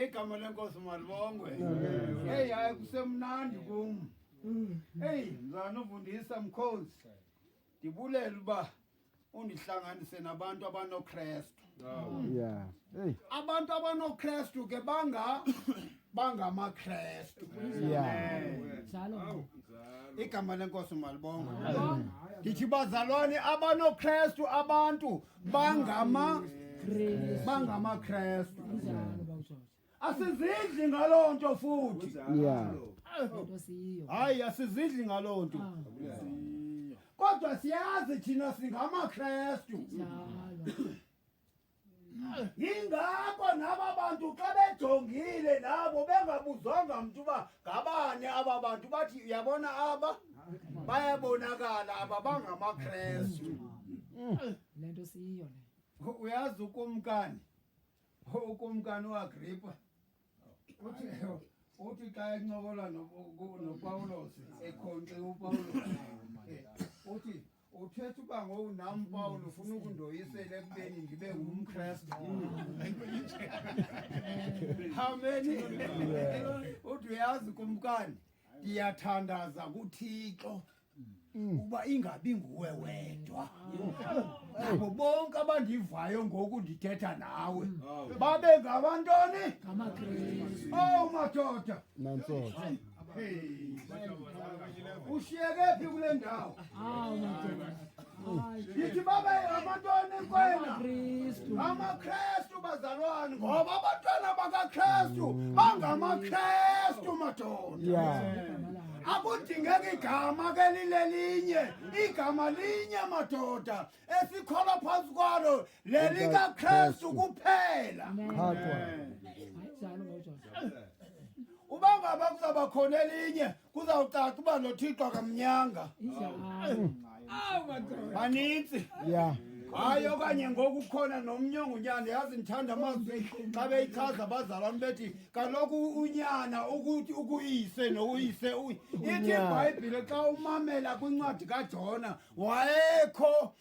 igama lenkosi malibongwe eyi hayi kusemnandi kum eyi mzana uvundisa mkhozi ndibulela uba undihlanganise nabantu abanokrestu yeah hey abantu abanokrestu ke banga bangamakrestu yeah njalo igama lenkosi malibongwe ndithi bazalwane abanokrestu abantu bangama bangamakrestu asizidli ngaloo nto futhi Yeah. Into siyiyo. hayi asizidli ngaloo nto kodwa siyazi thina singamakrestu Njalo. yingako naba bantu xa bejongile nabo bengabuzwanga mntu uba ngabani aba bantu bathi uyabona aba bayabonakala aba bangamakrestu le nto siyiyo le uyazi ukumkani ukumkani uagripa uthi uthi xa encokola nopawulos ekhonxe upawulos uthi uthetha uba ngoku nam pawulo ufuna ukundoyisela ekubeni ndibe ngumkrestu how many uthi uyazi kumkani ndiyathandaza kuthixo Mm. uba ingabi nguwe wedwa nabo bonke abandivayo ngoku ndithetha nawe mm. babe ngabantoni owu oh, madoda ushiyekephi kule ndawo yithi babe abantwana enkwena amakrestu bazalwane ngoba abantwana bakakrestu bangamakrestu madoda akudingeki igama ke lilelinye igama linye madoda esikholwa phansi kwalo lelikaKristu kuphela uba ngaba kuzawuba khona elinye kuzawucaca uba nothixo akamnyanga banintsi yeah hayi okanye ngoku khona nomnye ongunyana yazi ndithanda amazwi xa beyichaza abazalwane bethi kaloku unyana ukuthi ukuyise noyise ithi ibhayibhile xa umamela kwincwadi kajona wayekho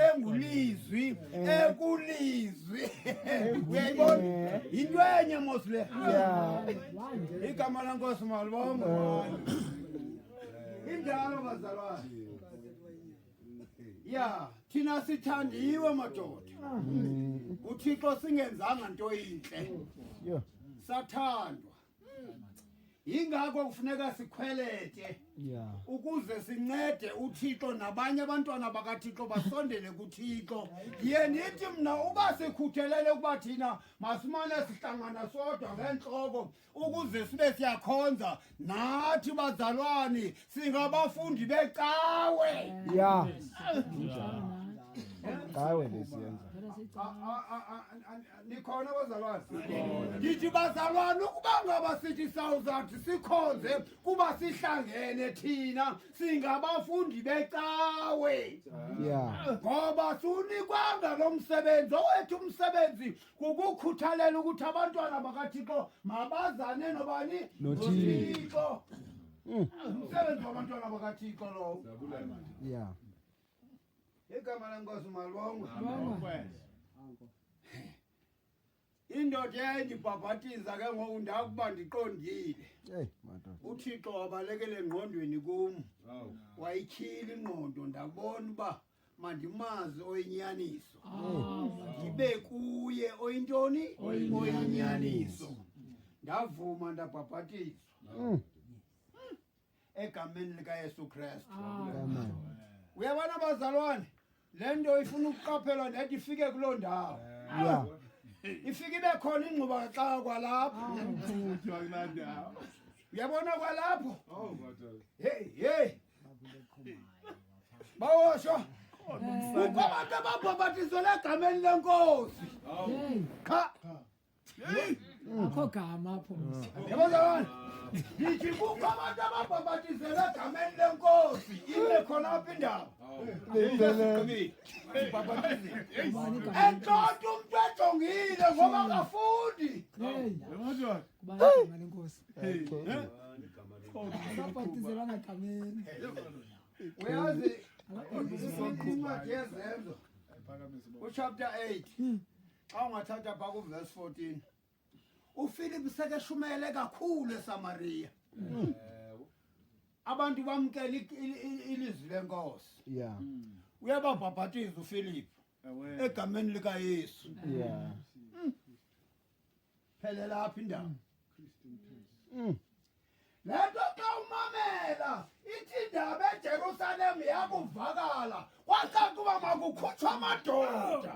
engulizwi ekulizwi uyayibona yinto enye mos le igama lenkosi malibonga injalo bazalwane ya thina sithandiwe madoda uthixo singenzanga nto yintle sathandwa yingakho kufuneka sikhwelete yeah. ukuze sincede uthixo nabanye abantwana bakathixo basondele kuthixo ye nithi mna uba sikhuthelele ukuba thina masimane sihlangana sodwa ngeentloko ukuze sibe siyakhonza nathi bazalwani singabafundi becawe ya yeah. yeah. yeah. nikhona bazalwane ndithi bazalwane ukuba ngaba sithi sawuzathi sikhonze kuba sihlangene thina singabafundi becawe ngoba sunikwanga lo msebenzi owethu umsebenzi kukukhuthalela ukuthi abantwana bakathixo mabazane nobani nothixo mm. umsebenzi wabantwana bakathixo lowo igama lenkosi malibongwe indoda eyayindibhabhatiza ke ngoku ndakuba ndiqondile uthixo wabalekele engqondweni kum wayityhila ingqondo ndabona uba mandimazi oyinyaniso ndibe kuye oyintoni oyinyaniso ndavuma ndabhabhatizwa mm. egameni likaYesu Kristu. Amen. Uyabona bazalwane, le nto ifuna ukuqaphelwa nedi ifike kuloo ndawo. Yeah. Ifike ibe khona ingxuba kaxaka kwalapho. Uthwa kulaa ndawo. Uyabona kwalapho? Oh, madoda. Hey, hey. Bawosho. Kukho abantu ababhabhatizwe egameni lenkosi. Awu. Qha. akho gama apho yabazalwane ndithi kukho abantu ababhabhatizela egameni lenkosi ibe khona apha indawo entlonto umntu ejongile ngoba kafundi ababhatizelanga egameni uyazi incwadi yezenzo uchapter 8 xa ungathatha phaa kuvesi 14 ufilipi sekeshumele kakhulu esamariya mm. abantu bamkela ilizwi lenkosi ya mm. uyababhabhatiza ufilipi egameni likayesu ya mm. phelela apha indawo mm. le nto xa umamela ithi indaba ejerusalem yakuvakala kwacakuba makukhutshwa amadoda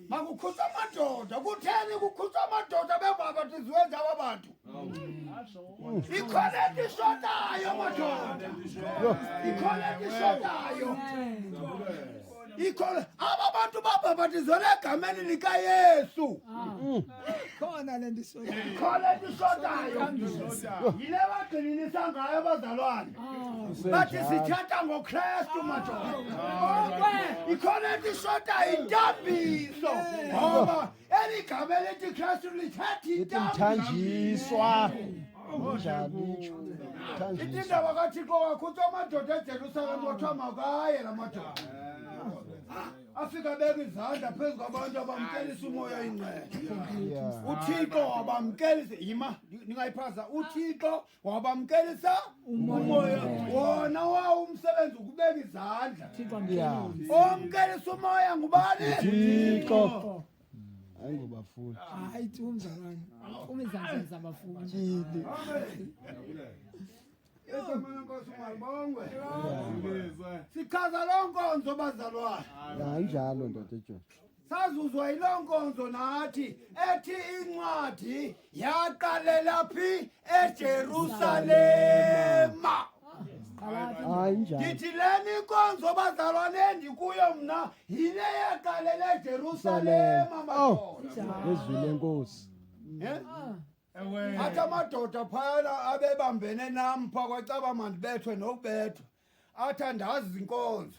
makukhutshwa amadoda kutheni kukhutshwa amadoda bebabhatiziwe njaba bantu Ikhona into ishodayo madoda. Ikhona into ishodayo. Ikhona aba bantu babhabhatizelwe egameni likaYesu. Khona le nto isoyo. Ikhona into ishodayo. Yile bagxininisa ngayo abazalwane. Bathi sithetha ngoKristu madoda. Ikhona into ishodayo intambiso. Ngoba eli gama elithi kristu lithathintanjiswa ithinda wakathixo wakho uthi amadoda ejerusalem kuthiwa makaye la madoda afike abeka izandla phezu kwabantu abamkelisa umoya ingcele uthixo wabamkelisa yima ndingayiphaza uthixo wabamkelisa umoya wona wawo umsebenzi ukubeka izandla omkelisa umoya ngubani thixo hayi ngobafuni hayi tu mzalwane ufuna izandla zabafundi tyidi sichaza loo nkonzo bazalwana hayi njalo ndoda ejosi Sazuzwa yiloo nkonzo nathi ethi incwadi yaqalela phi eJerusalema. Hayi njani. Ndithi lena inkonzo bazalwane endikuyo mna yile yaqalela eJerusalema Oh. madoda. Ngezwi lenkosi. Eh? Ewe. athi amadoda phayana abebambene nam phaa kwacaba mandibethwe nokubethwa athi andazi inkonzo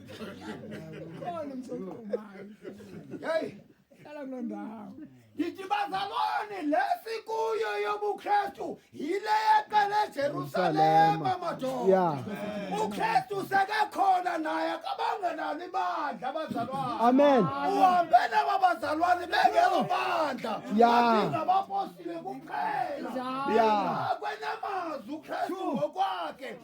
Khona msokubani. Hey. Hlala kuloo ndawo. Ndithi bazalwane le sikuyo yobuKristu yile yaqala eJerusalema madoda. Yeah. UKristu sekakhona naye akabanga nalo ibandla abazalwane. Amen. Uhambe nabo bazalwane bengelo bandla. Yeah. Ngabapostile kuphela. Yeah. Akwenamazwi uKristu ngokwakhe.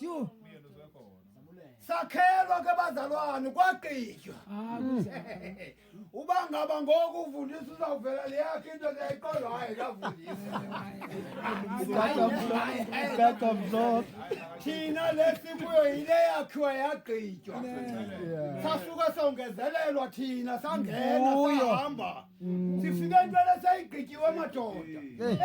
Yho. sakhelwa ke bazalwane kwaqitywa uba ngaba ngoku uvundisa uzawuvela le yakhe into leyayiqolo hayi kavundisa That's a vlog. thina le sikuyo yile yakhiwa yagqitywa sasuke songezelelwa thina sangena Nguyo. sahamba mm. sifike into lesayigqityiwe amadoda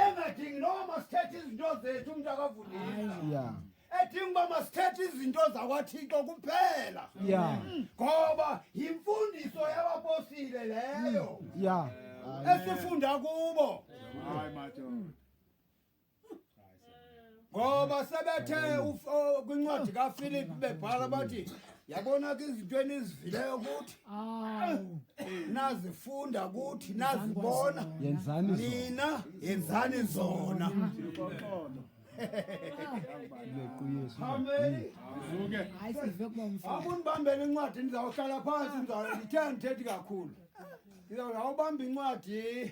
engadingi noba masithethe izinto zethu umntu akavulisa edinga uba masithethe izinto zakwathixo kuphela mm. ngoba yimfundiso yabaposile leyo mm. esifunda kubo ngoba sebethe kwincwadi kafilip bebhala bathi yabona ke izinto enizivileyo kuthi nazifunda kuthi nazibona nina yenzani zona amunibambele incwadi ndizawuhlala phantsi ndithe ndithethe kakhulu ndizawuhawubamba incwadi